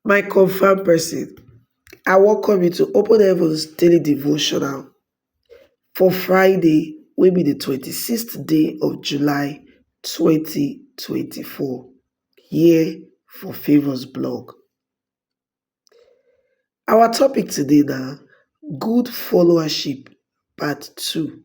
My confam person, I welcome you to Open Heavens Daily Devotional for Friday wey be the twenty sixth day of July twenty twenty four here for Favours blog. Our topic today na good followership part two.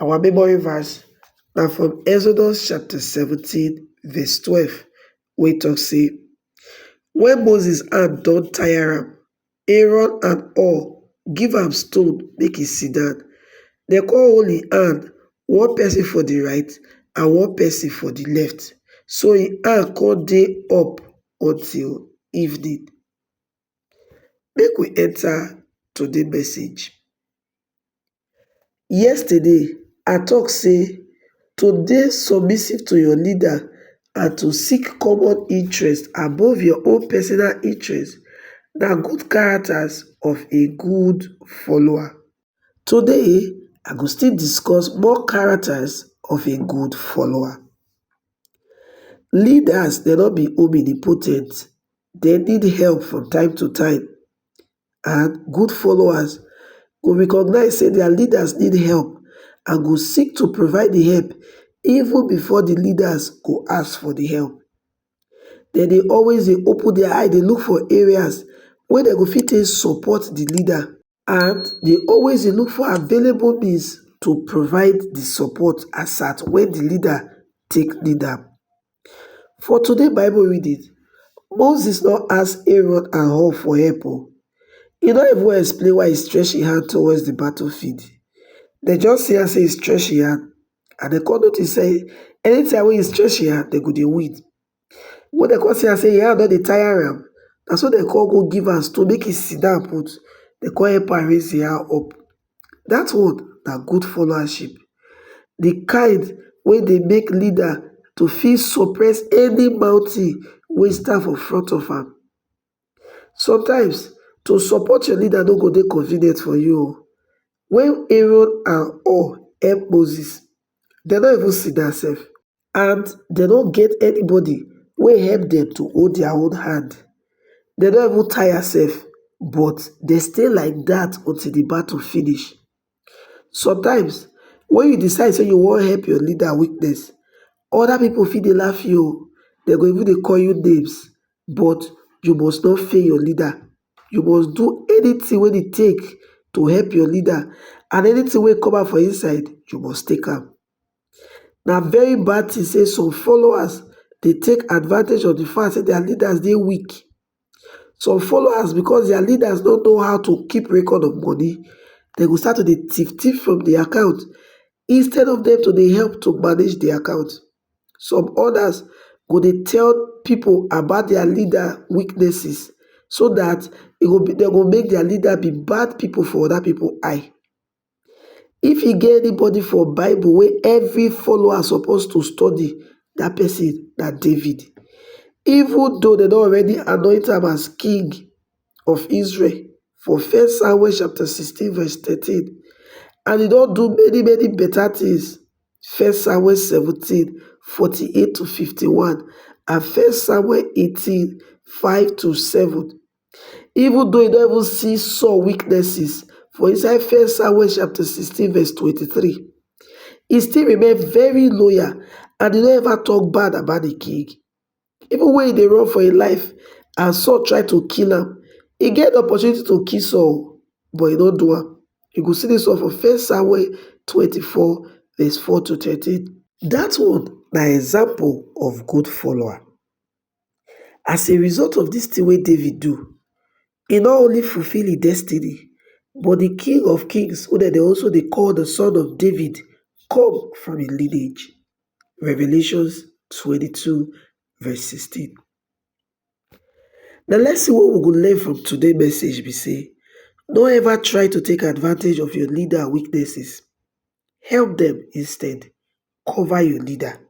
Our memory verse na from Exodus chapter seventeen verse twelve wey talk say, When Moses hand don tire am, Aaron and Hur give am stone make e sit down. Dem come hold im hand, one person for the right and one person for the left. So im hand come dey up until evening. Make we enter today message. Yesterday I talk say to dey submissive to your leader and to seek common interest above your own personal interest na good characters of a good follower. Today I go still discuss more characters of a good follower. Leaders dem no be omnipotent, dem need help from time to time and good followers go recognize say their leaders need help and go seek to provide di help even before di leaders go ask for di help. Dem dey always dey open their eye dey look for areas wey dem go fit take support di leader. and dey always dey look for available means to provide di support as at wen di leader take need am. For today bible reading, Moses no ask Aaron and Hur for help o, e no even explain why e stretch im hand towards di battle field, dem just see am sey e stretch im hand and dem come notice sey anytime wey e stretch im hand dem go dey win. Wen dem come see am sey im hand don dey tire am, na so dem come go give am stool make im sit down put, dem come help am raise im hand up. Dat one na good followership, de kind wey dey make leader to fit suppress any mountain wey stand for front of am. Sometimes, to support your leader no go dey convenient for you o. Wen Aaron and Hur help Moses, dem no even sit down sef. and dem no get anybody wey help dem to hold dia own hand dem don even tire sef but dem stay like dat until di battle finish sometimes wen you decide say you wan help your leader weakness oda pipo fit dey laugh you oh dem go even dey call you names but you must not fail your leader you must do anytin wey e take to help your leader and anytin wey come out for inside you must take am. Na very bad thing say some followers dey take advantage of the fact say their leaders dey weak. Some followers, because their leaders no know how to keep record of money, dem go start to dey thief thief from the account instead of them to dey help to manage the account. Some others go dey tell people about their leader weaknesses so that e go make their leader be bad people for other people eye. If e get anybody for bible wey every follower suppose to study, dat person na David. Even though dem don already anoint am as king of Israel for first Samuel chapter sixteen verse thirteen and e don do many many better things first Samuel seventeen forty eight to fifty one and first Samuel eighteen five to seven. Even though e don even see Saul weaknesses for inside 1 Samuel chapter 16 verse 23, e still remain very loyal and e no ever talk bad about the king. Even when e dey run for im life and Saul try to kill am, e get the opportunity to kill Saul but e no do am. You go see this one for 1 Samuel 24 verse 4 to 13. That one na example of good follower. As a result of dis tin wey David do, e no only fulfil im destiny, but di King of Kings, wey dem dey also dey call di Son of David, come from im lineage. Revelation twenty two verse sixteen. Di lesson wey we go learn from today message be sey, no ever try to take advantage of your leader weaknesses, help dem instead, cover your leader.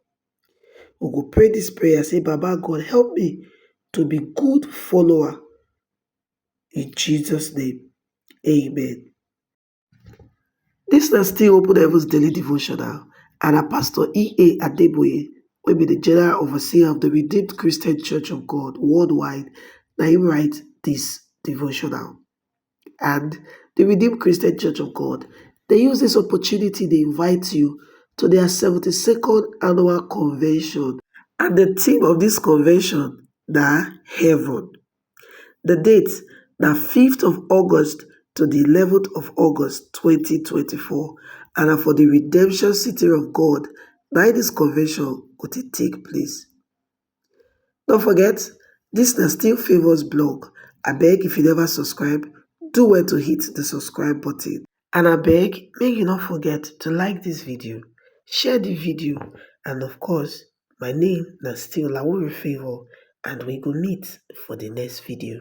we go pray dis prayer say baba God help me to be good follower in Jesus name amen. Dis na still Open Heavens Daily Devotional and na Pastor E.A. Adeboye wey be the General Overseer of the Redeemed Christian Church of God worldwide na him write dis devotional. and di redeemed christian church of god dey use dis opportunity dey invite you to dia seventy second annual convention and di theme of dis convention na heaven di date na fifth of august to di eleventh of august twenty twenty four and na for di redemption city of god na im dis convention go dey take place no forget dis na still favours blog abeg if you neva subscribe do well to hit di subscribe button and abeg make you no forget to like dis video share di video and of course my name na still lauri favour and we go meet for di next video